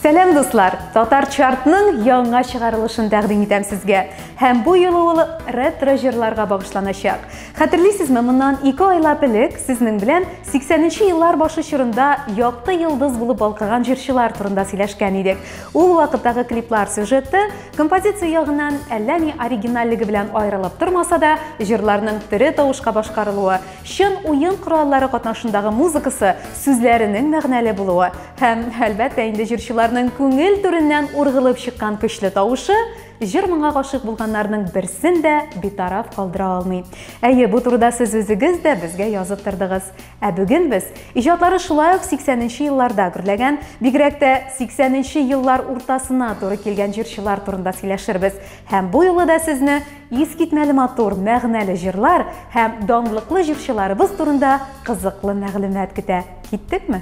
Сәләм дуслар! Татар чартның яңа чыгарылышын тәкъдим итәм сезгә. Һәм бу юлы ул ретро җырларга багышланачак. Хәтерлисезме, моннан 2 айлап элек сезнең белән 80нче еллар башы чорында якты йолдыз булып балкыган җырчылар турында сөйләшкән идек. Ул вакыттагы клиплар сюжеты Композиция ягыннан әллә ни оригинальлеге белән аерылып тормаса да, җырларның тере тавышка башкарылуы, чын уен кораллары катнашындагы музыкасы, сүзләренең мәгънәле булуы һәм, әлбәттә инде, җырчыларның күңел түреннән ургылып чыккан көчле тавышы җыр моңа гашыйк булганнарның берсен дә битараф калдыра алмый. Әйе, бу турыда сез үзегез дә безгә язып тордыгыз. Ә бүген без иҗатлары шулай ук 80 нче елларда гөрләгән, бигрәк тә 80 нче еллар уртасына туры килгән җырчылар турында сөйләшербез. Һәм бу юлы да сезне искитмәле матур, мәгънәле җырлар һәм данлыклы җырчыларыбыз турында кызыклы мәгълүмат көтә. Киттекме?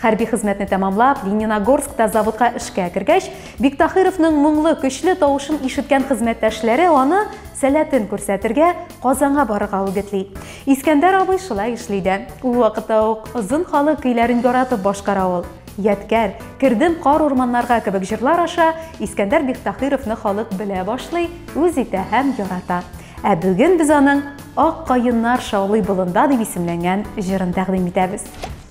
Хәрби хезмәтне тәмамлап, Лениногорскта заводка эшкә кергәч, Биктахировның моңлы, көчле тавышын ишеткән хезмәттәшләре аны сәләтен күрсәтергә Казанга барырга үгетли. Искәндәр абый шулай эшли дә. Ул вакытта ук озын халык көйләрен яратып башкара ул. Ядкәр, кердем кар урманнарга кебек җырлар аша Искәндәр Бихтахировны халык белә башлый, үз итә һәм ярата. Ә бүген без аның Ак каеннар шаулый болында дип исемләнгән җырын тәкъдим итәбез.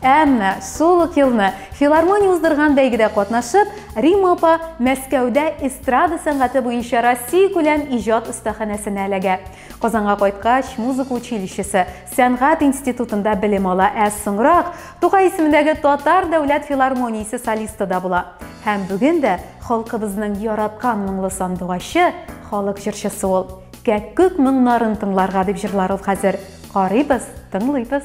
Әмма шул ук елны филармония уздырган бәйгедә катнашып, Рима апа Мәскәүдә эстрада сәнгате буенча Россия күләм иҗат остаханәсенә эләгә. Казанга кайткач, музыка училищесы, сәнгать институтында белем ала, ә соңрак Тукай исемендәге Татар дәүләт филармониясе солисты да була. Һәм бүген дә халкыбызның яраткан моңлы сандугачы, халык җырчысы ул. Кәккүк моңнарын тыңларга дип җырлар ул хәзер. Карыйбыз, тыңлыйбыз.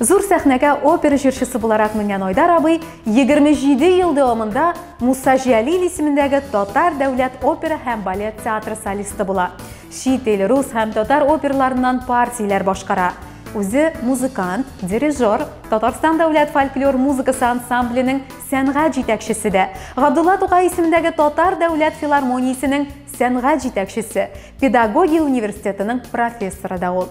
Зур сәхнәгә опера җырчысы буларак менгән Айдар абый 27 ел дәвамында Муса Җәлил исемендәге Татар дәүләт опера һәм балет театры солисты була. Чит ил, рус һәм татар оперларыннан партияләр башкара. Үзе музыкант, дирижер, Татарстан дәүләт фольклор музыкасы ансамбленең сәнгать җитәкчесе дә, Габдулла Тукай исемендәге Татар дәүләт филармониясенең сәнгать җитәкчесе, педагогия университетының профессоры да ул.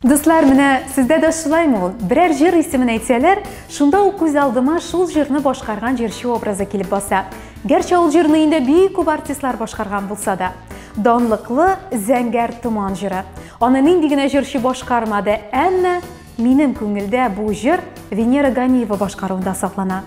Дуслар, менә сездә дә шулаймы ул? Берәр җыр исемен әйтсәләр, шунда ук күз алдыма шул җырны башкарган җырчы образы килеп баса. Гәрчә ул җырны инде бик күп артистлар башкарган булса да. Данлыклы Зәңгәр томан җыры. Аны нинди генә җырчы башкармады, әмма минем күңелдә бу җыр Венера Ганиева башкаруында саклана.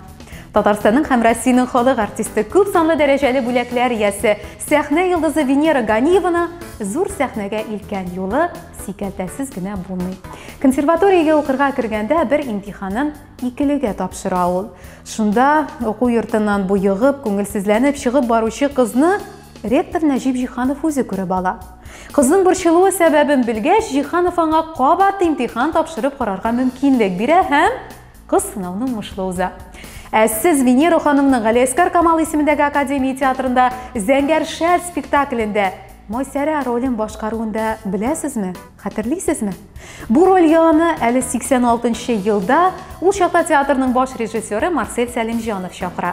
Татарстанның һәм Россиянең халык артисты, күп санлы дәрәҗәле бүләкләр иясе, сәхнә йолдызы Венера Ганиеваны зур сәхнәгә илткән юлы сикәлтәсез генә булмый. Консерваториягә укырга кергәндә бер имтиханын икелегә тапшыра ул. Шунда уку йортыннан буйыгып, күңелсезләнеп чыгып баручы кызны ректор Нәҗип Җиханов үзе күреп ала. Кызның борчылуы сәбәбен белгәч, Җиханов аңа кабат имтихан тапшырып карарга мөмкинлек бирә һәм Кыз сынауны уңышлы уза. Ә сез Венера ханымның Галиәскар Камал исемендәге академия театрында Зәңгәр шәл спектаклендә Майсәрә ролен башкаруын да беләсезме? Хәтерлисезме? Бу роль яланы әле 86 елда ул чакта театрның баш режиссеры Марсель Сәлимҗанов чакыра.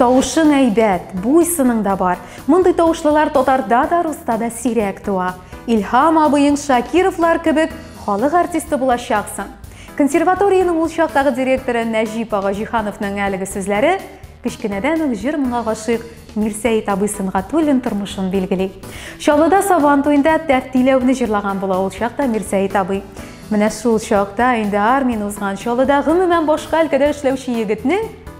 Тавышың әйбәт, буй-сының да бар. Мондый тавышлылар татарда да, руста да сирәк туа. Илһам абыең Шакировлар кебек халык артисты булачаксың. Консерваториянең ул чактагы директоры Нәҗип ага Җихановның әлеге сүзләре кечкенәдән үк җыр моңа гашыйк Мирсәет абый Сөнгатуллин тормышын билгели. Чаллыда Сабан туенда тәртиләүне җырлаган була ул чакта Мирсәет абый. Менә шул чакта инде армияне узган Чаллыда гомумән башка өлкәдә эшләүче егетнең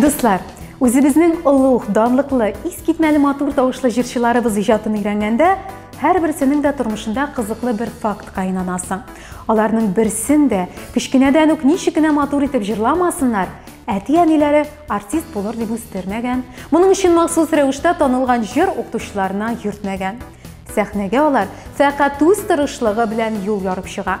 Дуслар, үзебезнең олуг, данлыклы, искитмәле матур тавышлы җырчыларыбыз иҗатын өйрәнгәндә, һәрберсенең дә тормышында кызыклы бер фактка инанасың. Аларның берсен дә кечкенәдән үк ничек кенә матур итеп җырламасыннар, әти-әниләре артист булыр дип үстермәгән, моның өчен махсус рәвештә танылган җыр укытучыларына йөртмәгән. Сәхнәгә алар фәкать үз тырышлыгы белән юл ярып чыга.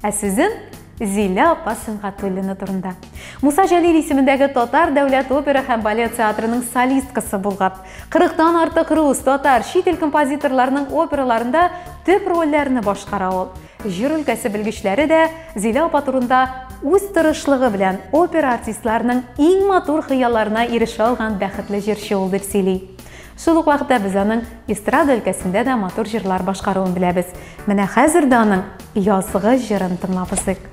Ә сүзем Зилә апа Сөнгатуллина турында. Муса Җәлил исемендәге татар дәүләт опера һәм балет театрының солисткасы булган. 40 тан артык рус, татар, чит ил композиторларының операларында төп рольләрне башкара ул. Җыр өлкәсе белгечләре дә Зилә апа турында үз тырышлыгы белән опера артистларының иң матур хыялларына ирешә алган бәхетле җырчы ул дип сөйли. Шул ук вакытта без аның эстрада өлкәсендә дә матур җырлар башкаруын беләбез. Менә хәзер дә аның Язгы җырын тыңлабызык.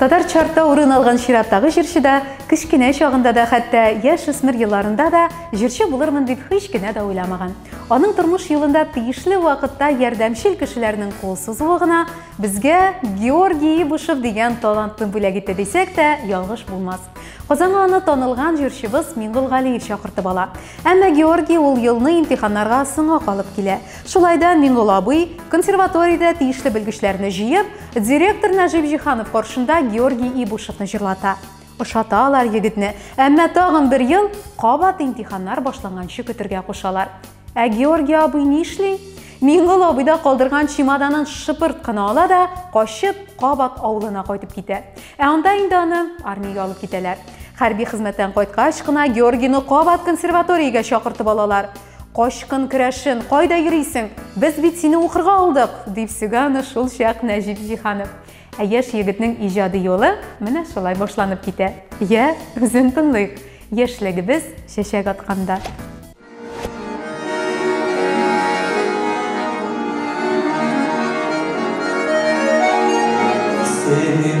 Татар чартта урын алган чираттагы җырчы да, кечкенә чагында да, хәтта яшь үсмер елларында да җырчы булырмын дип һич кенә дә уйламаган. Аның тормыш юлында тиешле вакытта ярдәмчел кешеләрнең кул сузуы гына безгә Георгий Ибушев дигән талантны бүләк итте дисәк тә, ялгыш булмас. Казанга аны танылган җырчыбыз Миңгол Галиев чакыртып ала. Әмма Георгий ул елны имтиханнарга соңа калып килә. Шулай да Миңгол абый консерваториядә тиешле белгечләрне җыеп, Директор Нәҗип Җиханов каршында Георгий Ибушевны җырлата. Ошаталар егетне, әмма тагын бер ел кабат имтиханнар башланганчы көтергә кушалар. Ә Георгий абый нишли? Миңгол абыйда калдырган чемоданын шыпырт кына ала да, качып, кабат авылына кайтып китә. Ә анда инде аны армиягә алып китәләр. Хәрби хезмәттән кайткач кына Георгийны кабат консерваториягә чакыртып алалар. Качкын керәшен, кайда йөрисең? Без бит сине укырга алдык, дип сөга аны шул чак Нәҗип Җиһанов. Ә яшь егетнең иҗади юлы менә шулай башланып китә. Я, үзен тыңлыйк. Яшьлегебез чәчәк атканда. Синең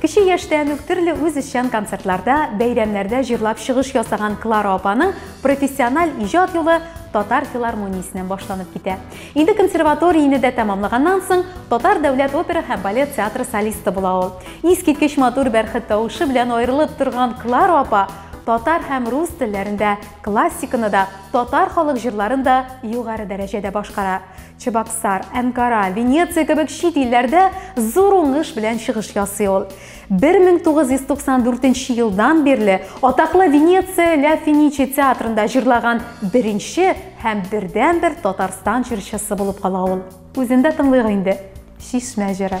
Кече яшьтән үк төрле үзешчән концертларда, бәйрәмнәрдә җырлап чыгыш ясаган Клара апаның профессиональ иҗат юлы татар филармониясеннән башланып китә. Инде консерваторияне дә тәмамлаганнан соң, татар дәүләт опера һәм балет театры солисты була ул. Искиткеч матур бәрхет тавышы белән аерылып торган Клара апа татар һәм рус телләрендә классиканы да, татар халык җырларын да югары дәрәҗәдә башкара. Чебоксар, Әнкара, Венеция кебек чит илләрдә зур уңыш белән чыгыш ясый ул. 1994 елдан бирле атаклы Венеция Ля Финичи театрында җырлаган беренче һәм бердәнбер Татарстан җырчысы булып кала ул. Үзендә тыңлыйк инде. Чишмә җыры.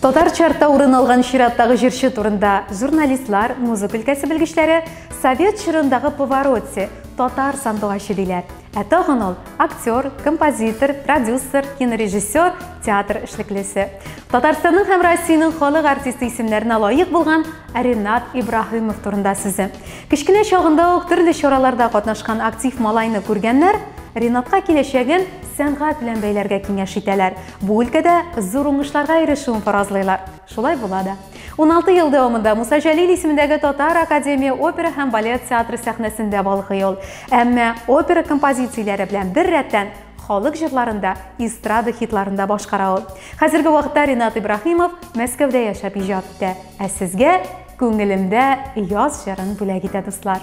Татар чарта урын алган чираттагы җырчы турында журналистлар, музыка өлкәсе белгечләре совет чорындагы повороте, татар сандугачы диләр. Ә тагын ул актер, композитор, продюсер, кинорежиссер, театр эшлеклесе. Татарстанның һәм Россиянең халык артисты исемнәренә лаек булган Ренат Ибраһимов турында сүзе. Кечкенә чагында ук төрле чараларда катнашкан актив малайны күргәннәр Ренатка киләчәген сәнгать белән бәйләргә киңәш итәләр. Бу өлкәдә зур уңышларга ирешүен фаразлыйлар. Шулай була да. 16 ел дәвамында Муса Җәлил исемендәге Татар академия опера һәм балет театры сәхнәсендә балкый ул. Әмма опера композицияләре белән бер рәттән халык җырларында, эстрада хитларында башкара ул. Хәзерге вакытта Ринат Ибраһимов Мәскәүдә яшәп иҗат итә. Ә сезгә күңелемдә яз җырын бүләк итә дуслар.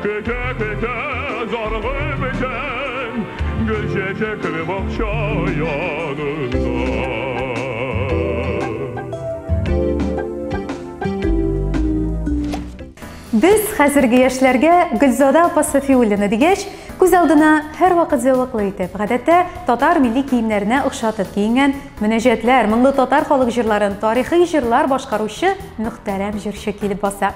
Көтә-көтә заргы бетән, Гөл чәчәкле бакча янында. Без хәзерге яшьләргә Гөлзада апа Сафиуллина дигәч, күз алдына һәрвакыт зәвыклы итеп, гадәттә татар милли киемнәренә охшатып киенгән, мөнәҗәтләр, моңлы татар халык җырларын, тарихи җырлар башкаручы мөхтәрәм җырчы килеп баса.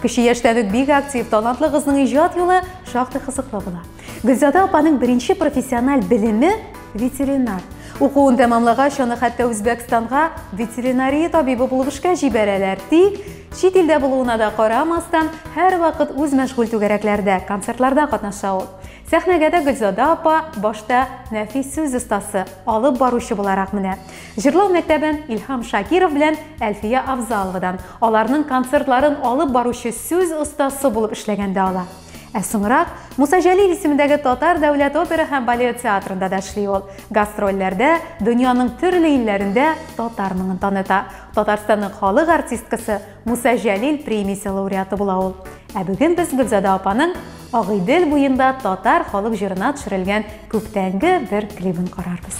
Кече яшьтән үк бик актив, талантлы кызның иҗат юлы шактый кызыклы була. Гөлзада апаның беренче профессиональ белеме ветеринар. Укуын тәмамлагач, аны хәтта Үзбәкстанга ветеринария табибы булып эшкә җибәрәләр. Тик чит илдә булуына да карамастан, һәрвакыт үз мәшгуль түгәрәкләрдә, концертларда катнаша ул. Сәхнәгә дә Гөлзада апа башта нәфис сүз остасы, алып баручы буларак менә. Җырлау мәктәбен Илһам Шакиров белән Әлфия Авзаловадан, Аларның концертларын алып баручы сүз остасы булып эшләгәндә ала. Ә соңрак Муса Җәлил исемендәге Татар дәүләт опера һәм балет театрында да эшли ул. Гастрольләрдә дөньяның төрле илләрендә татар моңын таныта. Татарстанның халык артисткасы, Муса Җәлил премиясе лауреаты була ул. Ә бүген без Гөлзада апаның Агыйдел буенда татар халык җырына төшерелгән күптәнге бер клибын карарбыз.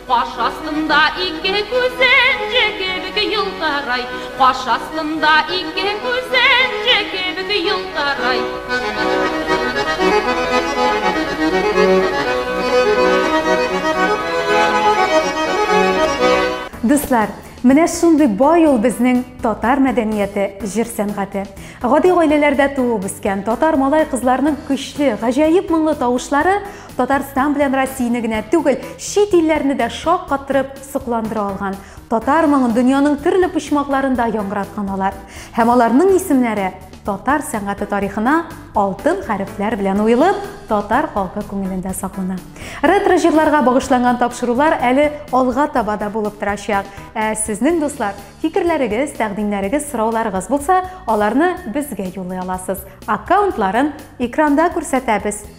Каш астында ике күзенҗе кебек елтырай, Каш астында ике күзенҗе кебек елтырай. Дуслар, менә шундый бай ул безнең татар мәдәнияте, җыр сәнгате. Гади гаиләләрдә туып үскән татар малай-кызларының көчле, гаҗәеп моңлы тавышлары Татарстан белән Россияне генә түгел, чит илләрне дә шаккаттырып, сокландыра алган. Татар моңын дөньяның төрле почмакларында яңгыраткан алар. Һәм аларның исемнәре татар сәнгате тарихына алтын хәрефләр белән уелып, татар халкы күңелендә саклана. Ретро җырларга багышланган тапшырулар әле алга таба да булып торачак. Ә сезнең дуслар, фикерләрегез, тәкъдимнәрегез, сорауларыгыз булса, аларны безгә юллый аласыз. Аккаунтларын экранда күрсәтәбез.